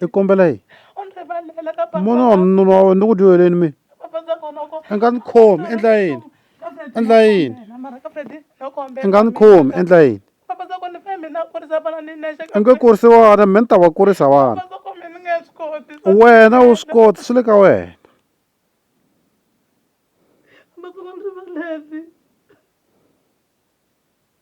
i kombela yini mona wa mununa wa wena ni ku dyoheleni mina i nga ni khomi endla yini endla yini i nga ni khomi endla yini i nge kurisi vana mina ni ta va kurisa vana wena wu swi koti swi le ka wena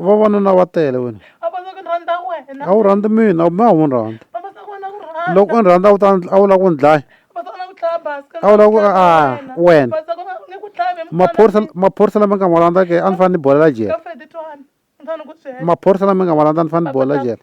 vavanuna va tele wena a wu rhandzi mina ma wu ni rhandza loko u ni rhandza a wu ta a wu lava ku ni dlaya a wu lava ku a wena maphorisa maphorisa lama nga ma landza ke a ni fanele ni bolela jele maphorisa lama nga ma landza ni fanele ni bolela jele.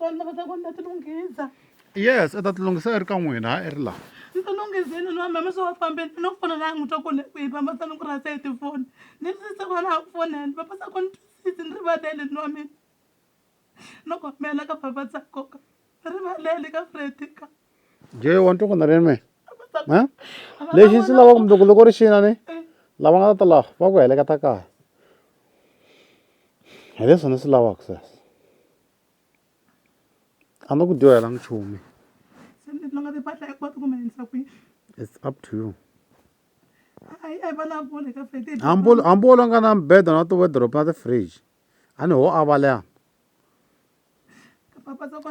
vanhu lava ta ku ni ta tilunghisa yes i ta tilunghisa i ri ka n'wina ha i ri laha ni tilunghizini ni vamama swi va fambeni ni ku fona laha n'wi twa ku le kwihi vama sa ni ku rhasa hi tifoni ni sise ku va na ha ku fonela vama sa ku ni twisisi ni rivalele ni wa mina no kombela ka vava tsakoka rivalele ka fredika jay wa ntuku na rime lexi ndzi lava kumbe ku loko ri xina ni lava nga ta ta laha va ku heleketa kaya hi leswi ni swi lavaka sweswo a ni ku dyohela nchumu it's up to you hambi u nga na mbeda na ti-wordrop na ti-fridge a ni ho avalea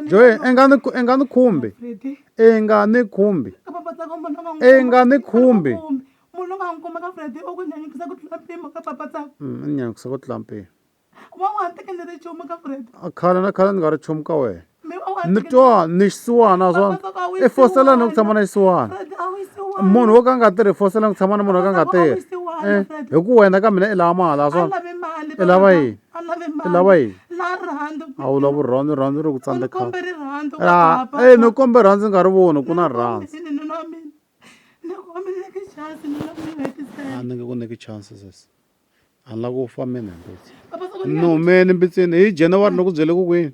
joy i nga ni i nga ni khumbi i nga ni khumbi i nga ni khumbi munhu loyi a n'wi kumaka Freddy u ku nyanyukisa ku tlula mpimo ka papa tsaka mm, ni nyanyukisa ku tlula mpimo wa n'wi tekele ri chumu ka Freddy khale na khale ni nga ri chumu ka wena mi twa ni xisiwana naswona i fosela ni ku tshama na xisiwana munhu wo ka a nga tirhi i fosela ni ku tshama na munhu wo ka a nga tirhi eh, hi ku wena ka mina i lava mali naswona i lava yini i lava yini a wu lava rirhandzu rirhandzu ri ku tsandzekhala e ni kombe rirhandzu nga ri voni ku na rirhandzu a ni nge ku nyiki chance sesi a ni lava ku fa mina mbitsi ni humeni mbitsini hi january ni ku byele ku kwini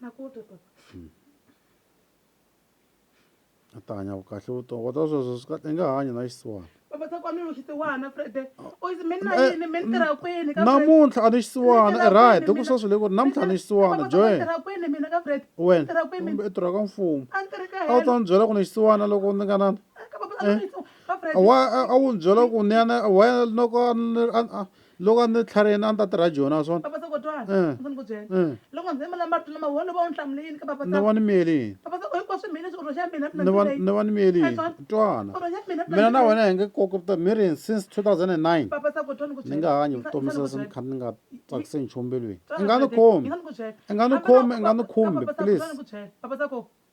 na ku twa twa a ta hanya kahle vutomi kota sweswo swi kahle i nga hanyi na xisiwana namuntlha a ni xisiwana i right hi ku sweswi le ku ri namuntlha a ni xisiwana joen wena kumbe i tirha ka mfumo a wu ta ni byela ku ni xisiwana loko ni nga na eh, a wu ni byela ku ni yana wena loko loko a ni tlhariheni a ni ta tirha joni a swona papasa kotwana Eh. ndzi ni ku byela Eh. loko ndzi yimela marito lama wona va wu hlamule yini ka papa ni va ni miyele yini papasa ku hinkwaswo mina leswi urho xa mina mina ni va ndzi leyi. ni va ni miyele yini Ayizwani? twana Urho xa mina mina na wena hi nge koki vutomi mi ri yini since 2009 papasa kotwana ku ni nga hanyi vutomi sweswi ni kha ni nga tsakise nchumu mbilwini i nga ni khomi i nga ni khomi i nga ni khumbi please papasa ko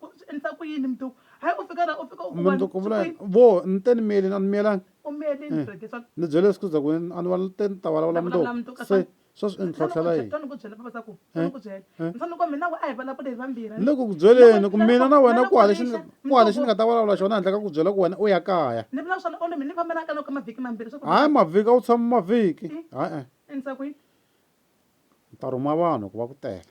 Ku swi endlisa ku yini mntu? Hayi u fika la u fika u ku mntu ku vula vo ni te ni miyelini a ni miyelangi u miyelini eh, rheti swa ni byele siku za ku a ni va te ni ta vulavula mntu se swa swi endhlotlhela yini ni ku byela baba swa ku eh, ni ku byela eh. ni fanele ku mina we a hi vulavule hi vambirhi ni le ku ku byeleni ku mina na wena ku hale xi ku hale xi ni nga ta vulavula xona handle ka ku byela ku wena u ya kaya ni vula swona olomi ni fambela ka loko mavhiki mambirhi swa ku hayi mavhiki a wu tshama mavhiki hayi endlisa ku yini ni ta rhuma vanhu ku va ku tela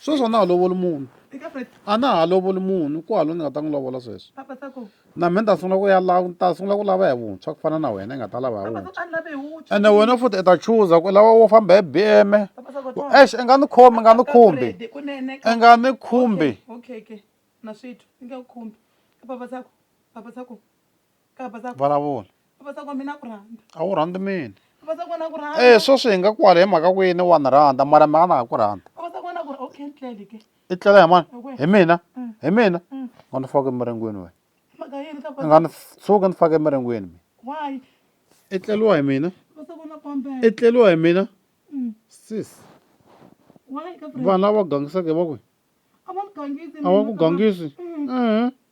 sweswi a na ha lovoli munhu a na ha lovoli munhu ku haloni ni nga ta n'wi lovola sweswi na mina ta sungula ku ya la ta sungula ku lava hi vuntshwa ku fana na wena i nga ta lava hi vuntshwa ene wena futhi i ta chuza ku lava wo famba hi bm ex i nga ni khumbi i nga ni khumbi i nga ni khumbi vulavula a wu rhandzi mina e sweswi hi nga kwala hi mhaka ku yini wa ni rhandza mara mhaka na ha ku rhandza i tlela hi mani hi mina hi mina nga ni faka emiringweni wena i nga ni tshuki ni faka emiringweni mina i tleliwa hi mina i tleliwa hi mina sis vanhu lava gangisaka va kwihi a va ku gangisi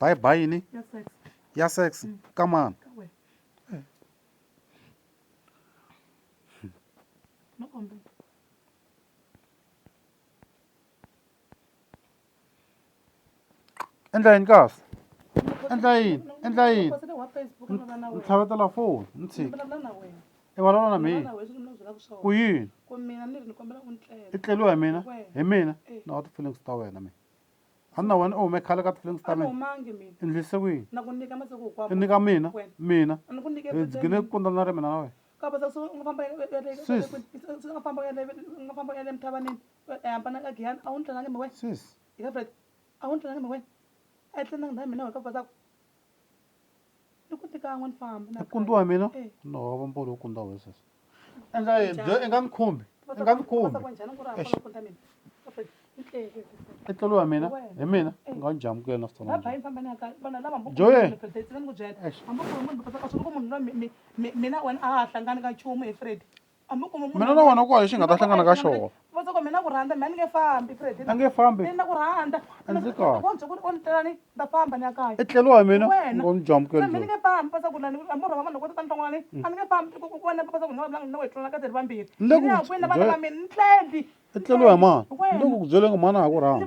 bye bye yini ya sex mm. ka mani endla yini kahle endla yini endla yini ni tlhavetela foni ni tshiki i vulavula na mina ku yini i tleliwa hi mina hi mina eh. na wa ti-feelings ta wena mina a ni na wena u hume khale ka ti-feelings ta mina i ndlise ku yini i nyika mina mina hi dzigine ku kundzana ri mina na wena sis sis i ku tika n'wani famba na kundiwa eh. mina no va mbolo kundiwa wesas enga byo enga ni khumbi enga ni khumbi i tlelo wa mina hi mina eh. nga ni jamukela na switsona joye mina wena a ha hlangani ka nchumu hi fred mina na wena ku wa lexi nga ta hlangana ka xona a nge fambi a ndzi kahle i tlelo wa mina ngo ni jamukela i tlelo wa mani ni le ku ku byeleni mhani a ha ku rhandza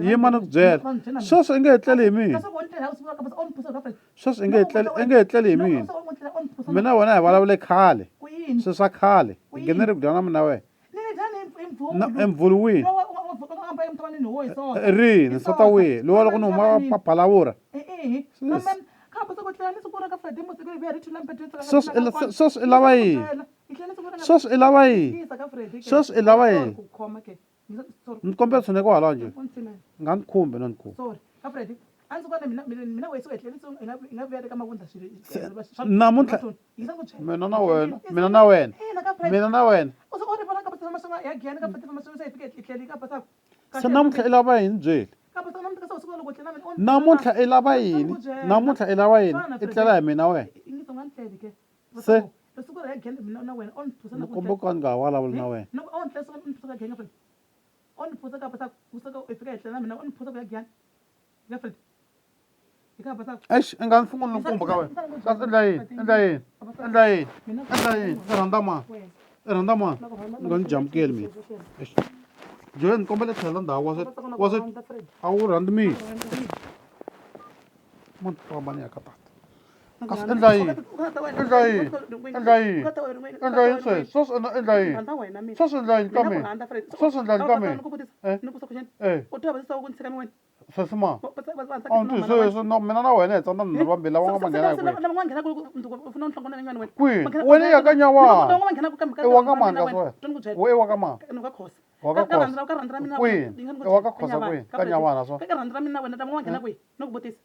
yima ni ku byela sweswi i nge hi tleli hi mina sweswi i nge i nge hi tleli hi mina mina wena hi vulavule khale swi swa khale hi nghene ri kudana mina wena emvulwini rini nsata wihi lowa loko ni huma paphalavura sweswi i lava yini sweswi i lava yini sweswi i lava yini mkombeso ne kwala nje ngangikhumbe nonku namuntlha mina na wena mina na wena mina na wena se namuntlha i lava yini byeli namuntlha i lava yini namuntlha i lava yini i tlela hi mina wena se ni komba ku a ni nga ha vulavuli na wena eish i nga ni sunguli ni kumba ka wena kasi endla yini endla yini endla yini endla yini i rhandza mani i rhandza mani ni nga ni jamukeli mina eish joe ni kombela tlhela ndhawu wa se wa se a wu rhandzi mina mani famba ni ya ka tata kasi endla yini endla yini endla yini endla yini sweswi sweswi endla endla yini sweswi endla yini ka mina sweswi endla yini ka mina eh sweswi ma a wu ndzi sweswi na mina na wena hi tsandza nharhu vambirhi lava nga manghena hi kwihi kwihi wena ya ka nyawana i wa ka mani kasi wena we i wa ka mani wa ka khosa kwihi i wa ka khosa kwihi ka nyawana swa